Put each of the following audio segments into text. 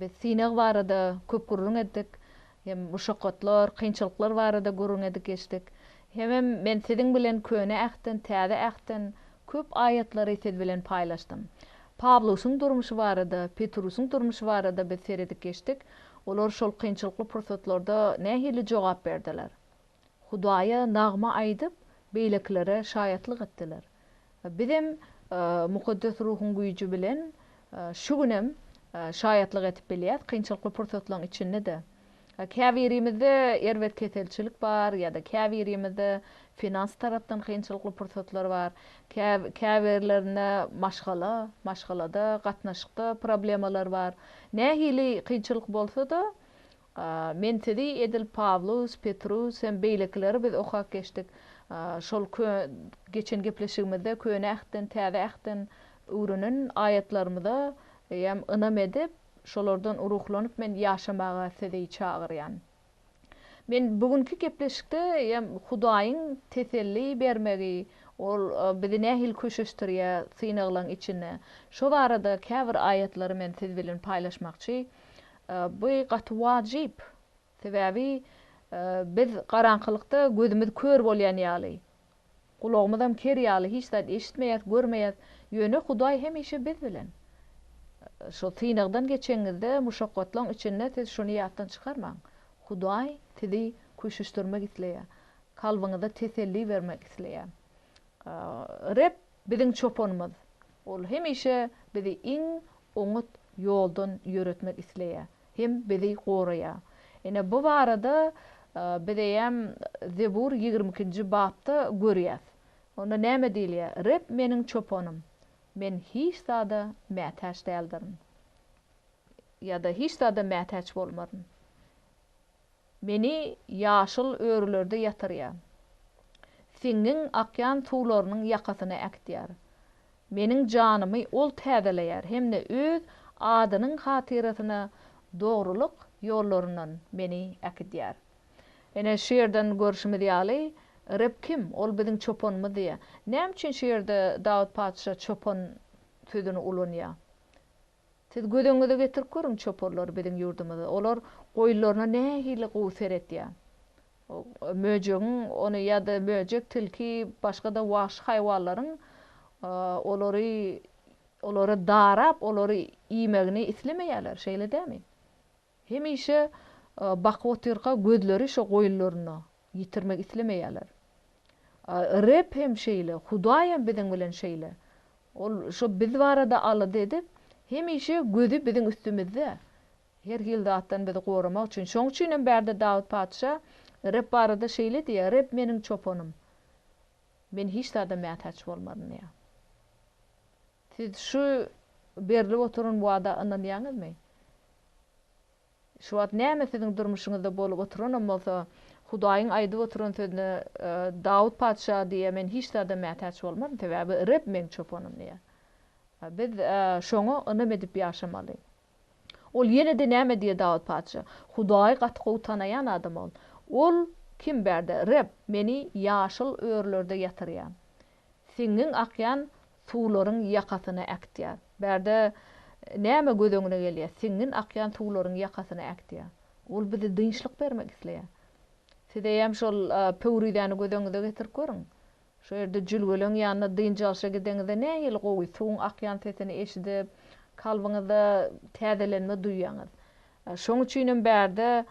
Biz synag barada köp gürrüň etdik, hem muşakgatlar, kynçylyklar barada gürrüň edip geçdik. Hemem men siziň bilen Köne Ähtden, Täze Ähtden köp aýatlary siz bilen paýlaşdym. Pawlusyň durmuşy barada, Petrusyň durmuşy barada biz seredip geçdik, olar şol kynçylykly pursatlarda nähili jogap berdiler? Hudaýa nagma aýdyp, beýlekilere şaýatlyk etdiler. Bizem Mukaddes Ruhuň güýji bilen şu günem şaýatlyk edip bilýäs, kynçylykly pursatlaryň içinde-de. Käbirimizde erbet keselçilik bar ýa-da käbirimizde finans tarapdan kynçylykly pursatlar bar, käbirlerinde maşgala, maşgalada, gatnaşykda problemalar bar. Nähili kynçylyk bolsa-da, Men sizi edil Pawlus, Petrus hem beýlekileri biz okap geçdik. Şol geçen gepleşigimizde Köne Ähtden, Täze Ähtden öwrenen aýatlarymyza hem ynam edip, şolardan ruhlanyp men ýaşamaga sizi çagyrýan. Men bu günki gepleşikde hem Hudaýyň teselli bermegi, Ol bizi nähili köşeşdirýär synaglaryň içinde, şo barada käbir aýatlary men siz bilen paýlaşmakçy. Bu gaty wajyp. Sebäbi biz garaňkylykda gözümiz kör bolýan ýaly, gulagymyzam ker ýaly hiç zat eşitmeýäs, görmeýäs. Ýöne Hudaý hemişe biz bilen. Şu synagdan geçeňizde, muşakgatlaryň içinde siz şuny ýatdan çykarmaň. Hudaý sizi küşüşdirmek isleýär. Kalbyňyza teselli bermek isleýär. Reb Biziň çopanymyz. Ol hemişe bizi iň oňat ýoldan ýöretmek isleýär hem bizi goraýar. Ine, bu barada biz eýýäm Zebur ýigrimi ikinji bapda görýäs. Onda näme diýilýär? Reb meniň çopanym, men hiç zada mätäç däldirin. Ýa-da hiç zada mätäç bolmaryn. Meni ýaşyl örülerde ýatyrýar. Siňňiň akýan suwlarynyň ýakasyna äkitýär. Meniň janymy ol täzeleýär hem-de öz adynyň hatyrasyna dogrulyk ýollaryndan meni äkidýär. Ine, şu ýerden görşümiz ýaly, Reb kim? Ol biziň çopanymyz diýýär. Näme üçin şu ýerde Dawut patyşa çopan sözüni ulanýar? Siz göz öňüňize getirip görüň çoparlary biziň ýurdumyzda. Olar goýunlaryna nähili gowy seretýär. Möjegiň ony ýa-da möjek, tilki, başga-da wagşy haýwanlaryň olary olary darap, olary iýmegini islemeýärler, şeýle dämi? Hemişe bakyp otyrka gözleri şo goýunlaryna ýitirmek islemeýärler. Reb hem şeýle, Hudaýam biziň bilen şeýle. Ol şo biz barada alada edip, hemişe gözi biziň üstümizde. Her hili zatdan bizi goramak üçin. Şoň üçin hem bärde Dawut patyşa Reb barada şeýle diýýär, Reb meniň çopanym. Men hiç zada mätäç bolmaryn diýýär. Siz şu berlip oturan wada ynanýaňyzmy? Şu wagt näme siziň durmuşyňyzda bolup oturanam bolsa, Hudaýyň aýdyp oturan sözüne Dawut patyşa diýýär, Men hiç zada mätäç bolmaryn, sebäbi Reb meň çopanym diýýär. Biz Şoňa ynam edip ýaşamaly. Ol ýene-de näme diýýär Dawut patyşa? Hudaýy gaty gowy tanaýan adam ol. Ol kim bärde? Reb, Meni ýaşyl örülerde ýatyrýar. Siňňiň akýan suwlaryň ýakasyna äkitýär. Bärde näme göz öňüne gelýär? Siňňin akýan suwlaryň ýakasyna äkitýär. Ol bize dynçlyk bermek isleýär. Siz eýýäm şol pöwrizäni göz öňüňize getirip görüň. Şo ýerde jülgeleň ýanyna dynç alşa gideňizde nähili gowy suwuň akýan sesini eşidip, kalbyňyzda täzelenme duýýaňyz. Şoň üçinem bärde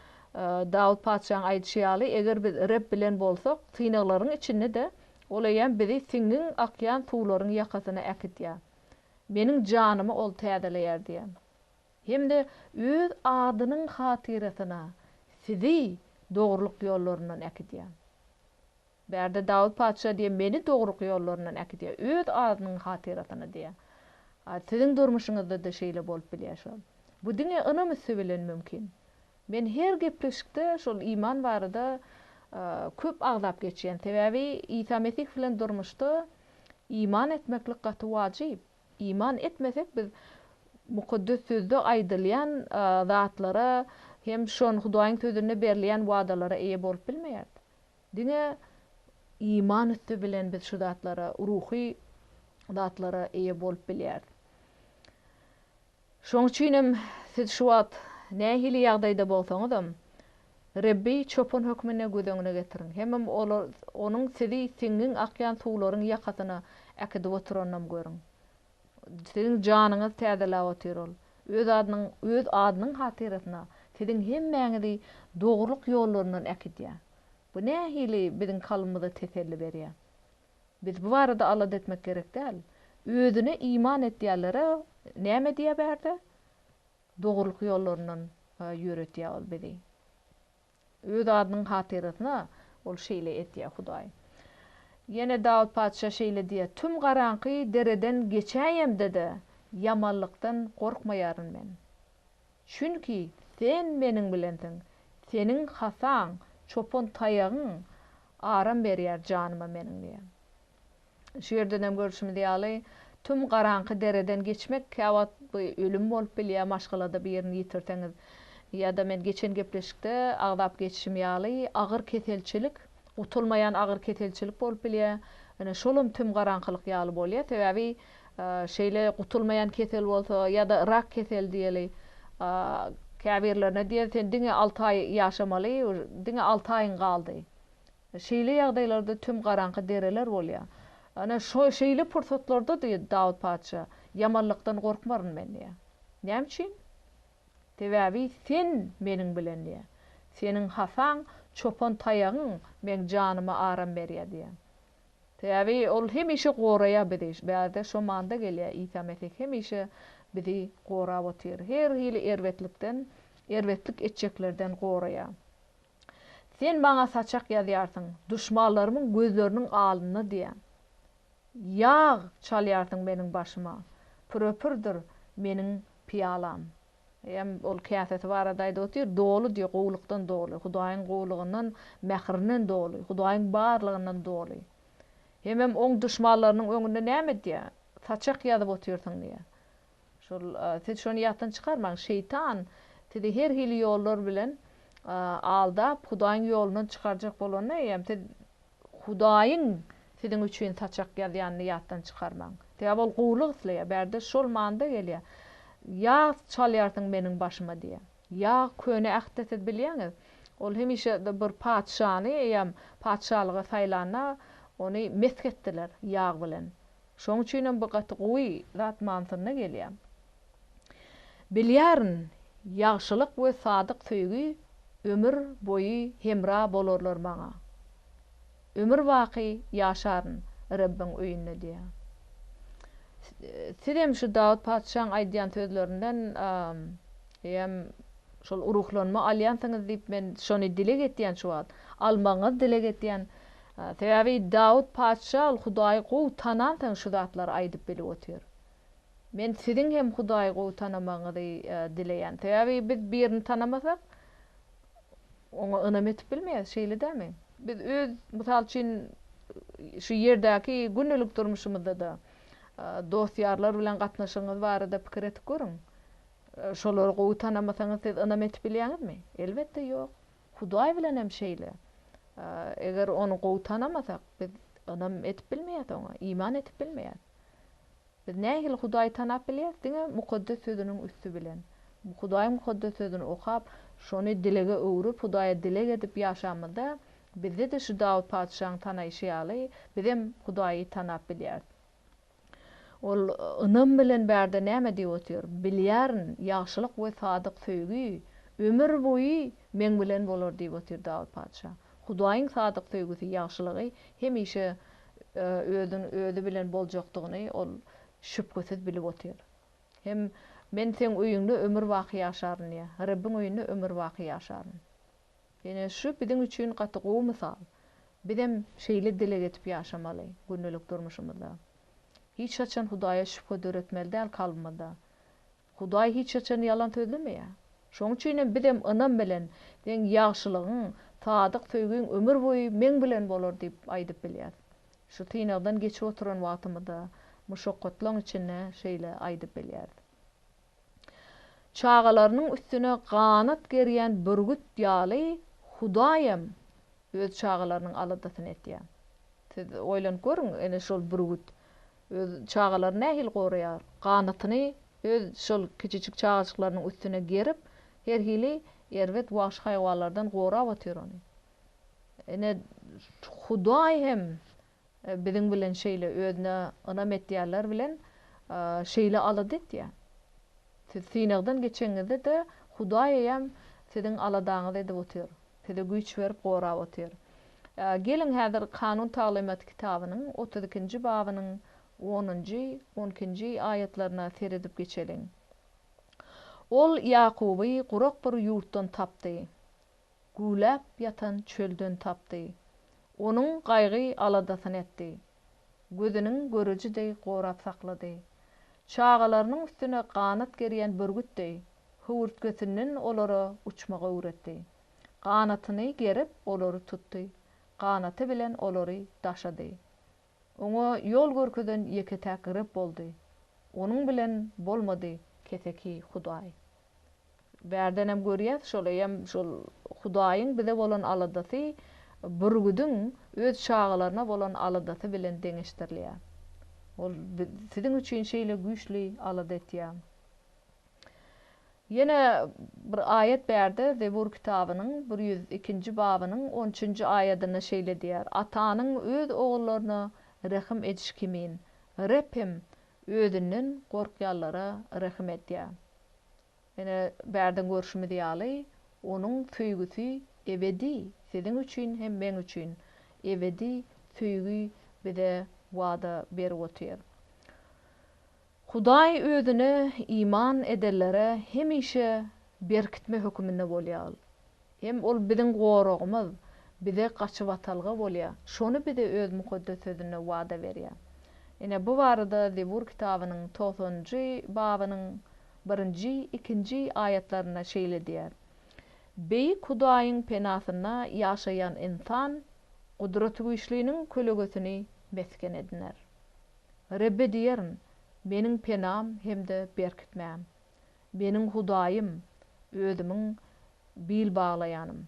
Dawut patyşaň aýdyşy ýaly, eger biz Reb bilen bolsak, synaglaryň içinde-de Ol eýýäm bizi siňňin akýan suwlaryň ýakasyna äkitýär. Meniň janymy Ol täzeleýär diýýär. Hem-de Öz adynyň hatyrasyna sizi dogrulyk ýollaryndan äkidýär. Bärde Dawut patyşa diýýär, Meni dogruk ýollaryndan äkidýär, öz adynyň hatyrasyna diýýär. A siziň durmuşyňyzda-da şeýle bolup bilýär şol. Bu diňe ynam üsti bilen mümkin. Men her gepleşikde şol iman barada köp agzap geçýän. Sebäbi Isa Mesih bilen durmuşda iman etmeklik gaty wajyp. Iman etmesek biz Mukaddes Sözde aýdylýan zatlara hem şon Hudaýyň Sözünde berilýän wadalara eýe bolup bilmeýäris. Diňe iman üsti bilen biz şu zatlara, ruhy zatlara eýe bolup bilýäris. Şonuň üçin hem siz şu wagt nähili ýagdaýda bolsaňyzam, Rebbi Çopan hökmünde göz öňüne getiriň. Hemem Onuň sizi siňňin akýan suwlaryň ýakasyna äkidip oturanynam görüň. Siziň janyňyzy täzeläp otyr Ol. Öz Adynyň Adynyň hatyrasyna siziň hemmäňizi dogrulyk ýollaryndan äkidýär. Bu nähili biziň kalbymyza teselli berýär? Biz bu barada alada etmek gerek däl. Özüne iman etýänlere näme edýär bärde? Dogrulyk ýollaryndan ýöretýär Ol bizi. Öz adynyň hatyrasyna Ol şeýle etýär, Hudaý. Ýene Dawut patyşa şeýle diýýär, Tüm garaňky dereden geçäýemde-de, ýamanlykdan gorkmaýaryn men. Çünki Sen meniň bilensiň, Seniň hasaň, çopan taýagyň aram berýär janyma meniň diýýär. Şu ýerden hem görşümiz ýaly, tüm garaňky dereden geçmek käwagt bu ölüm bolup bilýär, maşgalada bir ýerini ýitirseňiz ýa-da men geçen gepleşikde agzap geçişim ýaly agyr keselçilik, Gutulmaýan agyr keselçilik bolup bilýär. Ine, şolam tüm garaňkylyk ýaly bolýar. Sebäbi şeýle gutulmaýan kesel bolsa ýa-da rak keseli diýeli, käbirlerine diýer, sen diňe alty aý ýaşamaly, diňe alty aýyň galdy. Şeýle ýagdaýlarda tüm garaňky dereler bolýar. Ine, şeýle pursatlarda diýdi Dawut patyşa, Ýamanlykdan gorkmaryn men diýýär. Näme üçin? Sebäbi sen meniň bilen diýýär. Seniň hasaň, çopan taýagyň meň janyma aram berýär diýýär. Sebäbi ol hemişe goraýar bizi. Bärde şo manda gelýär. Isa Mesih hemişe bizi gorap otyr. Her hili erbetlikden, erbetlik etjeklerden goraýar. Sen maňa saçak ýazýarsyň, duşmanlarymyň gözleriniň alynda diýýär. Ýag çalýarsyň meniň başyma. Pürepürdir meniň pyýalam. Eýýäm ol käsesi barada aýdyp otyr, doly diýýär, gowulykdan doly, Hudaýyň gowulygyndan, mähirinden doly, Hudaýyň barlygyndan doly. Hemem oň duşmanlarynyň öňünde näme diýýär? Saçak ýazyp otyrsyň diýýär. Şol, siz şony ýatdan çykarmaň, şeýtan sizi her hili ýollar bilen aldap, Hudaýyň ýolundan çykarjak bolanda eýýäm siz Hudaýyň siziň üçin saçak ýazýanyny ýatdan çykarmaň. Sebäbi ol gowulyk isleýär. Bärde şol manyda gelýär. Ýag çalýarsyň meniň başyma diýýär. Ýag Köne Ähtde siz bilýäňiz, ol hemişe bir patyşany eýýäm patyşalyga saýlanda ony mesh etdiler ýag bilen. Şoň üçinem bu gaty gowy zat manysynda gelýär. Bilýärin, ýagşylyk we sadyk söýgi ömür boýy hemra bolarlar maňa. Ömür baky ýaşaryn Rebbiň öýünde diýýär. Sizem şu Dawut patyşaň aýdýan sözlerinden hem şol ruhlanma alýansyňyz diýip men şony dileg etýän şu wagt. Almagyňyzy dileg etýän. Sebäbi Dawut patyşa ol Hudaýy gowy tanansoň şu zatlary aýdyp bilip otyr. Men siziň hem Hudaýy gowy tanamagyňyzy dileýän. Sebäbi biz birini tanamasak, oňa ynam etip bilmeýäs, şeýle dälmi? Biz öz, mysal üçin, şu ýerdäki gündelik durmuşymyzda-da dost-ýarlar bilen gatnaşygyňyz barada pikir edip görüň. Şolary gowy tanamasaňyz, siz ynam etip bilýäňizmi? Elbetde, ýok. Hudaý bilenem şeýle. Eger Ony gowy tanamasak, biz ynam edip bilmeýäs Oňa, iman edip bilmeýäs. Biz nähili Hudaýy tanap bilýäris? Diňe Mukaddes Sözüniň üsti bilen. Hudaýyň Mukaddes Sözüni okap, şony dilege öwrüp, Hudaýa dileg edip ýaşamyzda, bizde-de şu Dawut patyşaň tanaýşy ýaly, bizem Hudaýy tanap bilýäris. Ol ynam bilen bärde näme diýip otyr? Bilýärin, ýagşylyk we sadyk söýgi ömür boýy meň bilen bolar diýip otyr Dawut patyşa. Hudaýyň sadyk söýgüsi, ýagşylygy hemişe özi bilen boljakdygyny ol şübhesiz bilip otyr. Hem Men Seň öýüňde ömür baky ýaşaryn diýýär. Rebbiň öýünde ömür baky ýaşaryn. Ine, şu biziň üçin gaty gowy mysal. Bizem şeýle dileg edip ýaşamaly gündelik durmuşymyzda. Hiç haçan Hudaýa şübhe döretmeli däl kalbymyzda. Hudaý hiç haçan ýalan sözlemeýär. Şonuň üçinem bizem ynam bilen, Seň ýagşylygyň, sadyk söýgiň ömür boýy meň bilen bolar diýip aýdyp bilýäris. Şu synagdan geçip oturan wagtymyzda, muşakgatlaryň içinde şeýle aýdyp bilýäris. Çagalarynyň üstüne ganat gerýän bürgüt ýaly Hudaýam öz çagalarynyň aladasyny etýär. Siz oýlanyp görüň, ene şol bürgüt öz çagalaryny nähili goraýar? Ganatyny öz şol kiçijik çagajyklarynyň üstüne gerip, her hili erbet wagşy haýwanlardan gorap otyr ony. Ine, Hudaý hem Biziň bilen şeýle özüne ynam etýänler bilen şeýle alada etýär. Siz synagdan geçeňizde-de Hudaý eýýäm siziň aladaňyzy edip otyr. Size güýç berip gorap otyr. Geliň häzir Kanun taglymat kitabynyň otuz ikinji babynyň onunjy, on ikinji aýatlaryna seredip geçeliň. Ol Ýakuby gurak bir ýurtdan tapdy. güwläp ýatan çölden tapdy. Onuň gaýgy-aladasyny etdi. Gözüniň göreji deý gorap saklady. Çagalarynyň üstüne ganat gerýän bürgüt deý, höwürtgesinden olara uçmagy öwretdi. Ganatyny gerip, olary tutdy. Ganaty bilen olary daşady. Oňa ýol görkezen ýeke-täk Reb boldy. Onuň bilen bolmady keseki hudaý. Bärdenem görýäs, şolaýam şol Hudaýyň bize bolan aladasy bürgüdiň öz çagalaryna bolan aladasy bilen deňeşdirilýär. Ol siziň üçin şeýle güýçli alada etýär. Ýene bir aýat bärde Zebur kitabynyň bir ýüz ikinji babynyň on üçünji aýadynda şeýle diýýär, Atanyň öz ogullaryna rehim edişi kimin, Reb hem özünden gorkýanlara rehim edýär. Ine, bärden görşümiz ýaly, Onuň söýgüsi ebedi, siziň üçin hem meň üçin ebedi söýgi bize wada berip otyr. Hudaý Özüne iman edenlere hemişe berkitme höküminde bolýar. Hem ol biziň goragymyz, bize gaçybatalga bolýar. Şony bize öz mukaddes sözünde wada berýär. Ine, bu barada Zebur kitabynyň togsanynjy babynyň birinji, ikinji aýatlarynda şeýle diýýär, Beýik Hudaýyň penasynda ýaşaýan ynsan Gudratygüýçliniň kölegesini mesgen ediner. Rebbe diýerin, Meniň penam hem-de berkitmäm, Meniň Hudaýym, özümiň bil baglaýanym.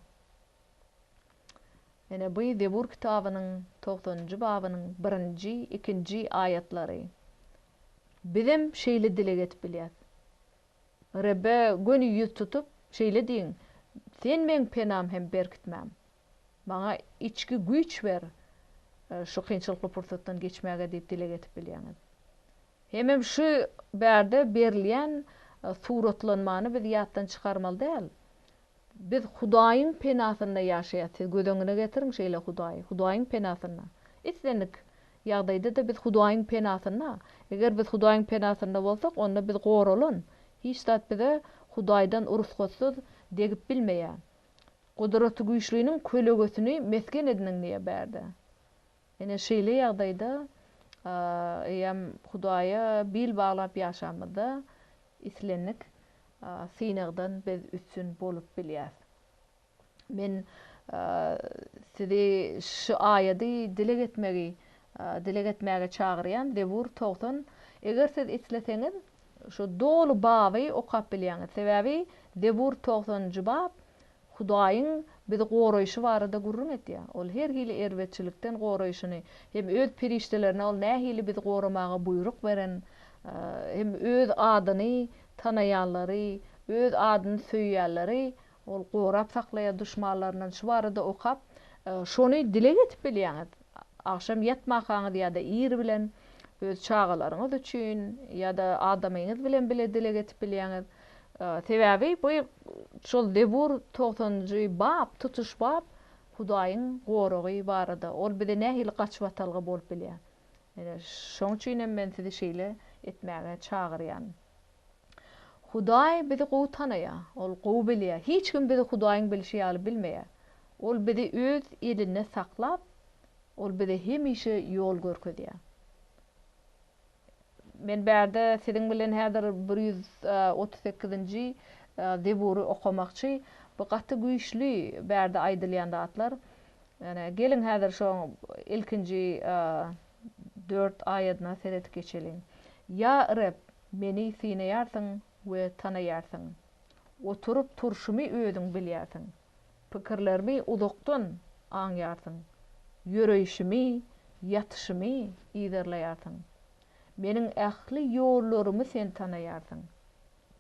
Ine, bu Zebur kitabynyň togsanynjy babynyň birinji, ikinji aýatlary. Bizem şeýle dileg edip bilýäs. Rebbe göni ýüz tutup, şeýle diýiň, Sen meň penam hem berkitmäm. Maňa içki güýç ber, şu kynçylykly pursatdan geçmäge diýip dileg edip bilýäňiz. Hemem şu bärde berilýän suratlanmany biz ýatdan çykarmaly däl. Biz Hudaýyň penasynda ýaşaýas. Siz göz öňüne getiriň şeýle Hudaýy. Hudaýyň penasynda. Islendik ýagdaýda-da biz Hudaýyň penasynda. Eger biz Hudaýyň penasynda bolsak, onda biz goralan. Hiç zat bize Hudaýdan urusgatsyz degip bilmeýär. Gudratygüýçliniň kölegesini mesgen ediniň diýýär bärde. Ine, şeýle ýagdaýda eýýäm Hudaýa bil baglap ýaşamyzda islendik synagdan biz üstün bolup bilýäs. Men sizi şu aýady dileg etmegi dileg etmäge çagyrýan, Zebur togsan, Eger siz isleseňiz, Şu doly baby okap bilýäňiz. Sebäbi Zebur togsanynjy bap Hudaýyň bizi goraýşy barada gürrüň etýär. Ol her hili erbetçilikden goraýşyny, hem öz perişdelerine ol nähili bizi goramaga buýruk beren, hem öz adyny tanaýanlary, öz adyny söýýänleri Ol gorap saklaýar duşmanlaryndan. Şu barada okap, şony dile getirip bilýäňiz. Agşam ýatmakaňyz ýa-da ir bilen öz çagalaryňyz üçin ýa-da adamyňyz bilen bile dile getirip bilýäňiz. Sebäbi bu şol Zebur togsanynjy bap, tutuş bap Hudaýyň goragy barada. Ol bize nähili gaçybatalga bolup bilýär. Ine, şoň üçin hem men sizi şeýle etmäge çagyrýan. Hudaý bizi gowy tanaýar. Ol gowy bilýär. Hiç kim bizi Hudaýyň bilşi ýaly bilmeýär. Ol bizi Öz elinde saklap, Ol bize hemişe ýol görkezýär. Men bärde siziň bilen häzir bir ýüz otuz sekizinji Zebury okamakçy. Bu gaty güýçli bärde aýdylýan zatlar. Ýöne geliň häzir şo ilkinji dört aýadyna seredip geçeliň. Ýa Reb, Meni synaýarsyň we tanaýarsyň. Oturyp turşumy özüň bilýärsiň. Pikirlerimi uzakdan aňýarsyň. Ýöreýşimi, ýatyşymy yzarlaýarsyň. Meniň ähli ýollarymy sen tanaýarsyň.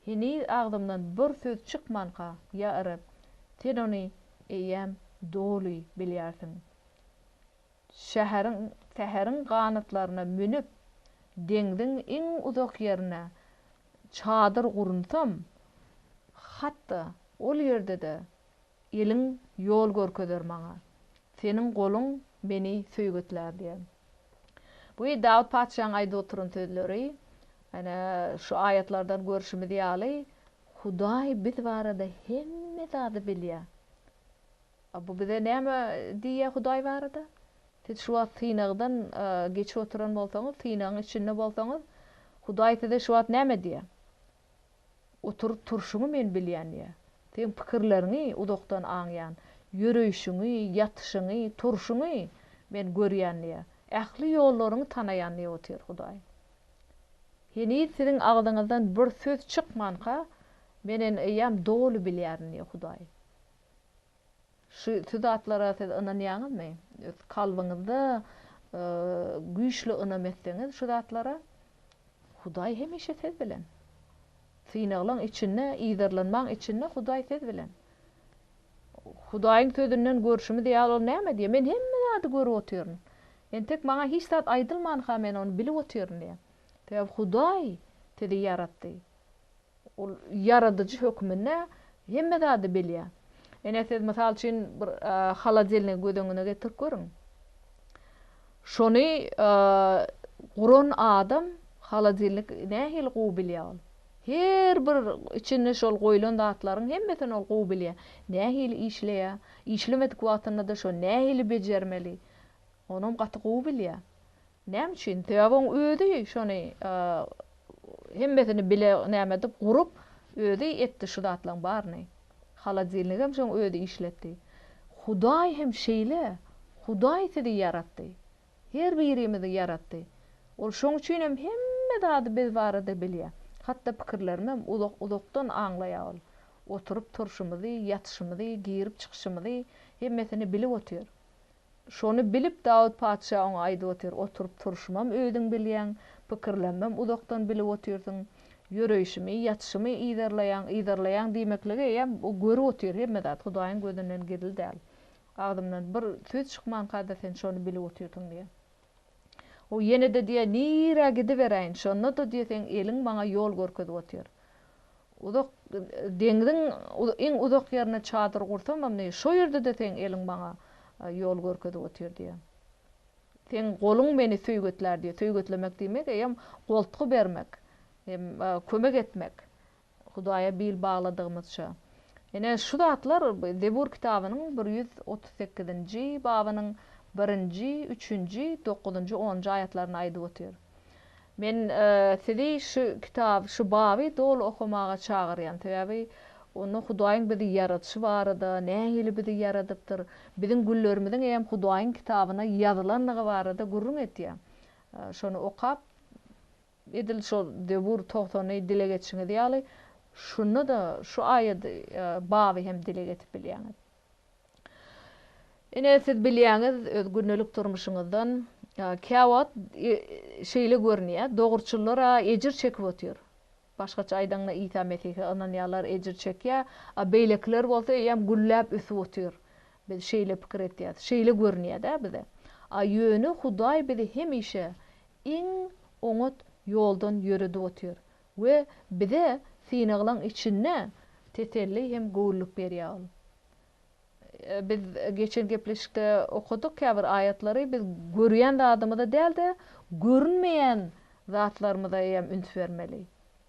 Heniz agzymdan bir söz çykmanka, ýa Reb, sen ony eýýäm doly bilýärsiň. Şäheriň, säheriň ganatlaryna münüp, deňziň iň uzak ýerine çadyr gurunsam, hat-da ol ýerde-de eliň ýol görkezer maňa, seniň goluň meni söýgetlär diýen. Bu Dawut patyşaň aýdyp oturan sözleri. Ýöne şu aýatlardan görşümiz ýaly, Hudaý biz barada hemme zady bilýär. A bu bize näme diýýär Hudaý barada? Siz şu wagt synagdan geçip oturan bolsaňyz, synagyň içinde bolsaňyz, Hudaý size şu wagt näme diýýär? Oturyp turşuňy men bilýän diýýär. Seň pikirleriňi uzakdan aňýan. Ýöreýşiňi, ýatyşyňy, turşuňy men görýän diýýär. Ähli ýollaryňy tanaýan diýip otyr Hudaý. Heniz siziň agzyňyzdan bir söz çykmanka, Men ene eýýäm doly bilýärin diýýär Hudaý. Şu şu zatlara siz ynanýaňyzmy? Öz kalbyňyzda güýçli ynam etseňiz şu zatlara, Hudaý hemişe siz bilen. Synaglaň içinde, yzarlanmaň içinde Hudaý siz bilen. Hudaýyň sözünden görşümiz ýaly ol näme diýýär? Men hemme zady görüp otyryn. Entek maňa hiç zat aýdylmanka men ony bilip otyryn diýýär. Sebäbi Hudaý sizi ýaratdy. Ol ýaradyjy hökmünde hemme zady bilýär. Ine, siz mysal üçin bir holodelnigi göz öňüne getirip görüň. Şony guran adam holodelnik nähili gowy bilýär ol. Her bir içinde şol goýlan zatlaryň hemmesini ol gowy bilýär. Nähili işleýär, işlemedik wagtynda-da şony nähili bejermeli, onam gaty gowy bilýär. Näme üçin? Sebäbi oň özi şony hemmesini bile näme edip gurup, özi etdi şu zatlaň baryny. Holodilnigem şoň özi işletdi. Hudaý hem şeýle. Hudaý sizi ýaratdy. Her birimizi ýaratdy. Ol şoň üçinem hemme zady biz barada bilýä. Hatda pikirlerimem uzak uzakdan aňlaýa ol. Oturyp turşumyzy, ýatyşymyzy, girip çykyşymyzy hemmesini bilip otyr. Şony bilip, Dawut patyşa oňa aýdyp otyr, Oturyp turşumam özüň bilýäň, pikirlenmem uzakdan bilip otyrsyň. Ýöreýşimi, ýatyşymy yzarlaýaň, yzarlaýaň diýmekligi eýýäm bu görüp otyr, hemme zat Hudaýyň gözünden gizli däl. Agzymdan bir söz çykmanka-da sen şony bilip otyrsyň diýýär. O ýene-de diýýär, Nirä gidiberäýin, şonda-da diýýär, seň eliň maňa ýol görkezip otyr. Uzak deňziň iň uzak ýerine çadyr gursamam, diýýär, şo ýerde-de seň eliň maňa ýol görkezip otyr diýýär. Seň goluň meni söýgetlär diýýär. Söýgetlemek diýmek eýýäm goltgy bermek, kömek etmek. Hudaýa bil bagladygymyzça. Ine, şu zatlar Zebur kitabynyň bir ýüz otuz sekizinji babynyň birinji, üçünji, dokuzynjy, onunjy aýatlarynda aýdyp otyr. Men sizi şu kitaby, şu baby doly okamaga çagyrýan, sebäbi onda Hudaýyň bizi ýaradyşy barada, nähili bizi ýaradypdyr, biziň günlerimiziň eýýäm Hudaýyň kitabyna ýazylandygy barada gürrüň etýär. Şony okap, Edil şol Zebur togsany dile getirişiňiz ýaly, şunda-da şu aýat, baby hem dile getirip bilýäňiz. Ine, siz bilýäňiz, öz gündelik durmuşyňyzdan, käwagt şeýle görünýär, dogruçyllar-a ejir çekip otyr. Başgaça aýdaňda, Isa Mesihe ynanýanlar ejir çekýär, a beýlekiler bolsa eýýäm gülläp ösüp otyr. Biz şeýle pikir etýäs, şeýle görünýär-dä bize. A ýöne Hudaý bizi hemişe iň oňat ýoldan ýöredip otyr we bize synaglaň içinde teselli hem göwünlik berýär ol. Biz geçen gepleşikde okadyk käbir aýatlary biz görýän zadymyza däl-de görünmeýän zatlarymyza eýýäm üns bermeli.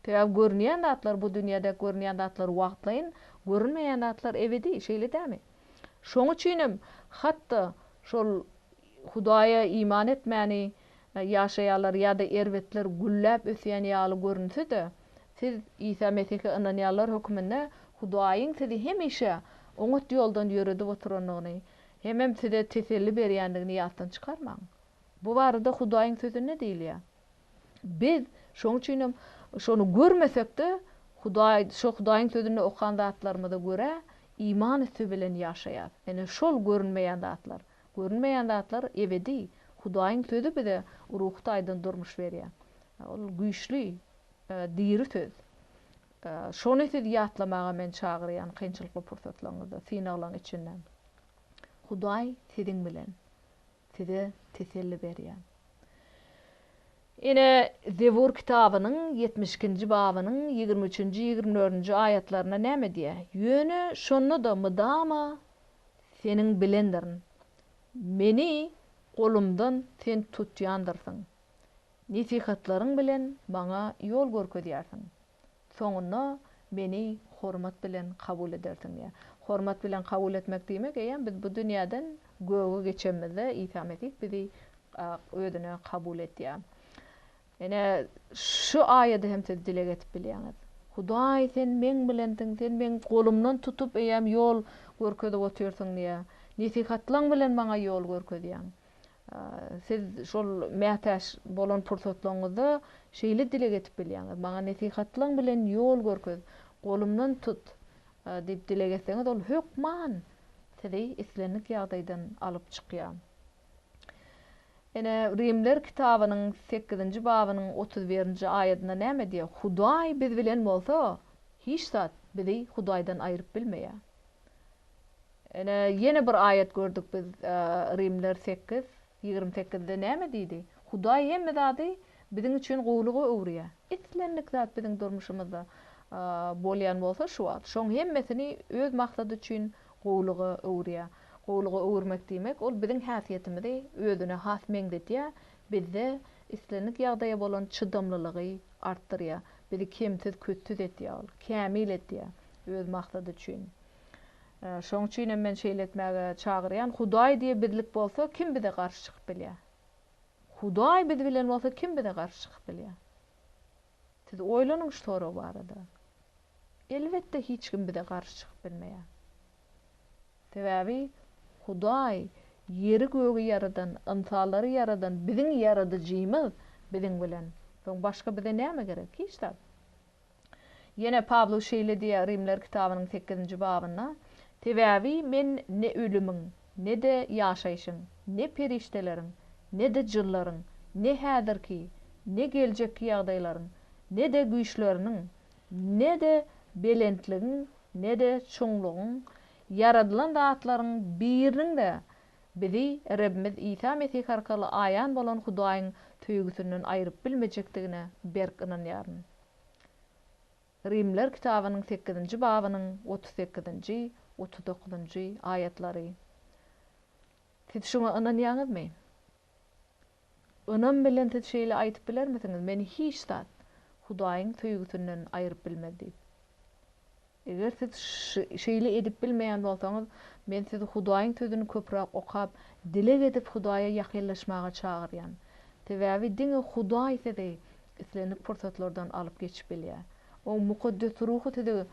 Sebäbi görünýän zatlar bu dünýädäki görünýän zatlar wagtlaýyn, görünmeýän zatlar ebedi, şeýle dämi? Şoň üçin hem hatda şol Hudaýa iman etmäni ýaşaýarlar ýa-da erbetler gülläp ösýän ýaly görünse-de, siz Isa Mesihe ynanýanlar hökmünde Hudaýyň sizi hemişe oňat ýoldan ýöredip oturandygyny hemem size teselli berýändigini ýatdan çykarmaň. Bu barada Hudaýyň Sözünde diýilýär. Biz, şonuň üçin hem, şony görmesek-de, Hudaý, şo Hudaýyň Sözünde okan zatlarymyza görä, iman üsti bilen ýaşaýarys. Ine, şol görünmeýän zatlar. Görünmeýän zatlar ebedi. Hudaýyň sözi bize ruhy taýdan durmuş berýär. Ol güýçli, diri söz. Şony siz ýatlamaga men çagyrýan kynçylykly pursatlaryňyzda, synaglaryň içinde. Hudaý siziň bilen. Size teselli berýär. Ine, Zebur kitabynyň ýetmiş ikinji babynyň ýigrimi üçünji, ýigrimi dördünji aýatlarynda näme diýýär? Ýöne şonda-da mydama Seniň bilendirin. Meni golumdan Sen tutýandyrsyň. Nesihatlaryň bilen maňa ýol görkezýärsiň. Soňunda meni hormat bilen kabul edersiň diýýär. Hormat bilen kabul etmek diýmek, eýýäm biz bu dünýäden göge geçenimizde Isa Mesih bizi Özüne kabul edýär. Ine, şu aýady hem siz dileg edip bilýäňiz. Hudaý, Sen Meň bilensiň, Sen Meň golumdan tutup, eýäm ýol görkezip otyrsyň diýýär. Nesihatlaň bilen Maňa ýol görkezýäň. Siz şol mätäç bolan pursatlaryňyzda şeýle dileg edip bilýäňiz, Maňa nesihatlaň bilen ýol görkez, golumdan tut diýip dileg etseňiz, Ol hökman sizi islendik ýagdaýdan alyp çykýar. Ine, Rimler kitabynyň sekizinji babynyň otuz birinji aýadynda näme diýýär? Hudaý biz bilen bolsa, hiç zat bizi Hudaýdan aýryp bilmeýär. Ine, ýene bir aýat gördük biz, Rimler sekiz, ýigrimi sekizde näme diýdi? Hudaý hemme zady biziň üçin gowulyga öwürýär. Islendik zat biziň durmuşymyzda bolýan bolsa, şu wagt şoň hemmesini öz maksady üçin gowulyga öwürýär. Gowulyga öwürmek diýmek, ol biziň häsiýetimizi özüne has meňzedýär, bizde islendik ýagdaýa bolan çydamlylygy artdyrýar, bizi kemsiz, kütsüz etýär ol, kämil etýär öz maksady üçin. Şonuň üçin hem men şeýle etmäge çagyrýan, Hudaý diýip bizlik bolsa, kim bize garşy çykyp bilýär? Hudaý biz bilen bolsa, kim bize garşy çykyp bilýär? Siz oýlanyň şu sorag barada. Elbetde hiç kim bize garşy çykyp bilmeýär. Sebäbi Hudaý ýeri gögi ýaradan, ynsanlary ýaradan biziň ýaradyjymyz biziň bilen. Soň başga bize näme gerek? Hiç zat. Ýene Pawlus şeýle diýýär Rimler kitabynyň sekizinji babynda, Sebäbi men ne ölümiň, Ne-de ýaşaýşyň, ne perişdeleriň, ne-de jynlaryň, ne häzirki, ne geljekki ýagdaýlaryň, ne-de güýçleriniň, ne-de belentligiň, ne-de çuňlugyň, ýaradylan zatlaryň biriniň-de bizi Rebimiz Isa Mesih arkaly aýan bolan Hudaýyň söýgüsinden aýryp bilmejekdigine berk ynanýaryn. Rimler kitabynyň sekizinji babynyň otuz sekizinji, otuz dokuzynjy aýatlary. Siz şuňa ynanýaňyzmy? Ynam bilen siz şeýle aýdyp bilermisiňiz, Meni hiç zat Hudaýyň söýgüsinden aýryp bilmez diýip? Eger siz şeýle edip bilmeýän bolsaňyz, men sizi Hudaýyň Sözüni köpräk okap, dileg edip Hudaýa ýakynlaşmaga çagyrýan. Sebäbi diňe Hudaý sizi Islendik pursatlardan alyp geçip bilýär. Oň mukaddes ruhy size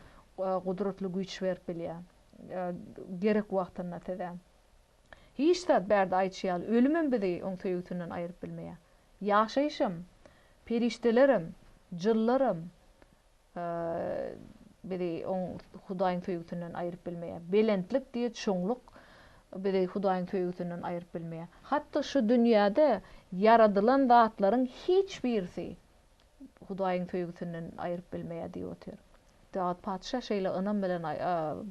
gudratly güýç berip bilýär. Gerek wagtynda size. Hiç zat bärde aýtşy ýaly, ölümem bizi oň söýgüsinden aýryp bilmeýär. Ýaşaýyşam, perişdelerem, jynlaram, bizi oň Hudaýyň söýgüsinden aýryp bilmeýär. Belentlik diýe çuňluk bizi Hudaýyň söýgüsinden aýryp bilmeýär. Hatda şu dünýäde ýaradylan zatlaryň hiç birisi Hudaýyň söýgüsinden aýryp bilmeýär diýip otyr. Dawut patyşa şeýle ynam bilen,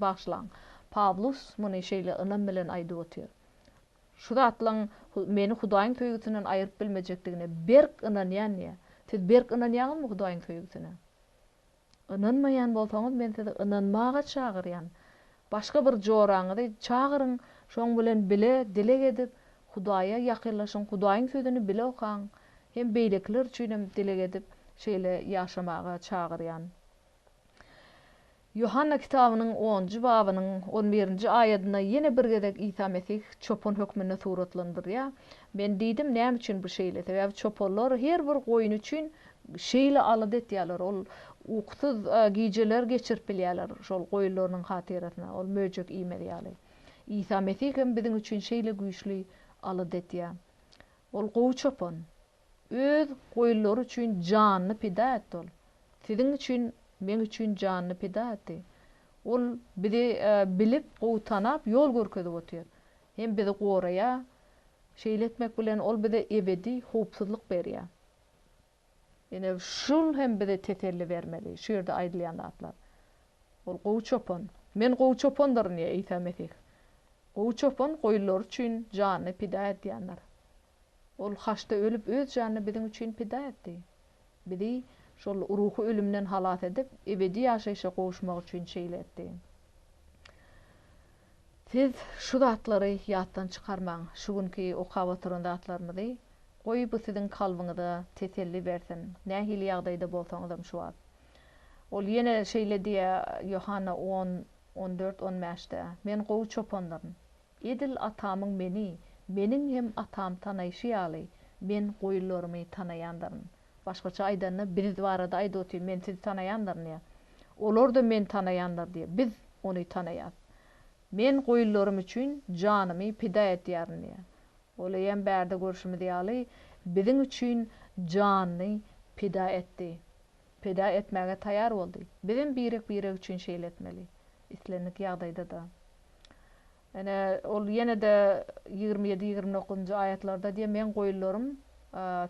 bagyşlaň, Pawlus muny şeýle ynam bilen aýdyp otyr. Şu zatlaryň meni Hudaýyň söýgüsinden aýryp bilmejekdigine berk ynanýan diýýär. Siz berk ynanýaňyzmy Hudaýyň söýgüsine? Ynanmaýan bolsaňyz, men sizi ynanmaga çagyrýan. Başga bir joraňyzy çagyryň, şoň bilen bile dileg edip, Hudaýa ýakynlaşyň, Hudaýyň Sözüni bile okaň. Hem beýlekiler üçinem dileg edip, şeýle ýaşamaga çagyrýan. Ýohanna kitabynyň onunjy babynyň on birinji aýadynda ýene bir gezek Isa Mesih çopan hökmünde suratlandyrylýar. Men diýdim, Näme üçin bu şeýle? Sebäbi çopanlar her bir goýun üçin şeýle alada etýärler. Ol ukusyz gijeler geçirip bilýärler şol goýunlarynyň hatyrasyna, ol möjek iýmez ýaly. Isa Mesih hem biziň üçin şeýle güýçli alada etýär. Ol gowy çopan. Öz goýunlary üçin janyny pida etdi ol. Siziň üçin, meň üçin janyny pida etdi. Ol bizi bilip, gowy tanap, ýol görkezip otyr. Hem bizi goraýar. Şeýle etmek bilen ol bize ebedi howpsuzlyk berýär. Ine, şul hem bize teselli bermeli, şu ýerde aýdylýan zatlar. Ol gowy çopan. Men gowy çopandyryn diýýär Isa Mesih. Gowy çopan goýunlary üçin janyny pida edýändir. Ol haçda ölüp, Öz janyny biziň üçin pida etdi. Bizi şol ruhy ölümden halas edip, ebedi ýaşaýşa gowuşmak üçin şeýle etdi. Siz şu zatlary ýatdan çykarmaň, şu günki okap oturan zatlarymyzy. Goý, bu siziň kalbyňyza teselli bersin, nähili ýagdaýda bolsaňyzam şu wagt. Ol ýene şeýle diýýär, Ýohanna on, on dört, on bäşde, Men gowy çopandyryn. Edil atamyň meni, meniň hem atam tanaýşy ýaly, men goýunlarymy tanaýandyryn. Başgaça aýdanda, biz barada aýdyp otyr, men sizi tanaýandyryn diýýär. Olar-da meni tanaýandyr diýýär. Biz ony tanaýas. Men goýunlarym üçin janymy pida etýärin diýýär. Ol eýýäm bärde görşümiz ýaly, biziň üçin janyny pida etdi. Pida etmäge taýýar boldy. Bizem birek-birek üçin şeýle etmeli. Islendik ýagdaýda-da. Ine, ol ýene-de ýigrimi ýedi, ýigrimi dokuzynjy aýatlarda diýýär, Meň goýunlarym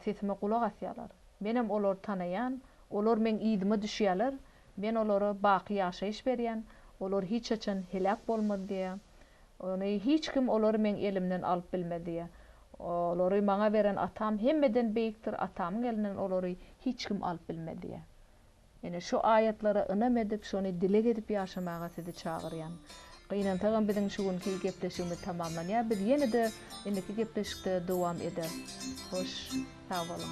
sesime gulak asýarlar. Menem olary tanaýan, olar Meň yzyma düşýärler, Men olara baky ýaşaýyş berýän, olar hiç haçan heläk bolmaz diýýär. Ony hiç kim olary Meň elimden alyp bilmez diýýär. Olary Maňa beren Atam hemmeden beýikdir, Atamyň elinden olary hiç kim alyp bilmez diýýär. Ine, şu aýatlara ynam edip, şony dileg edip ýaşamaga sizi çagyrýan. Gynansagam biziň şu günki gepleşigimiz tamamlanýar. Biz ýene-de indiki gepleşikde dowam eder. Hoş, sag boluň.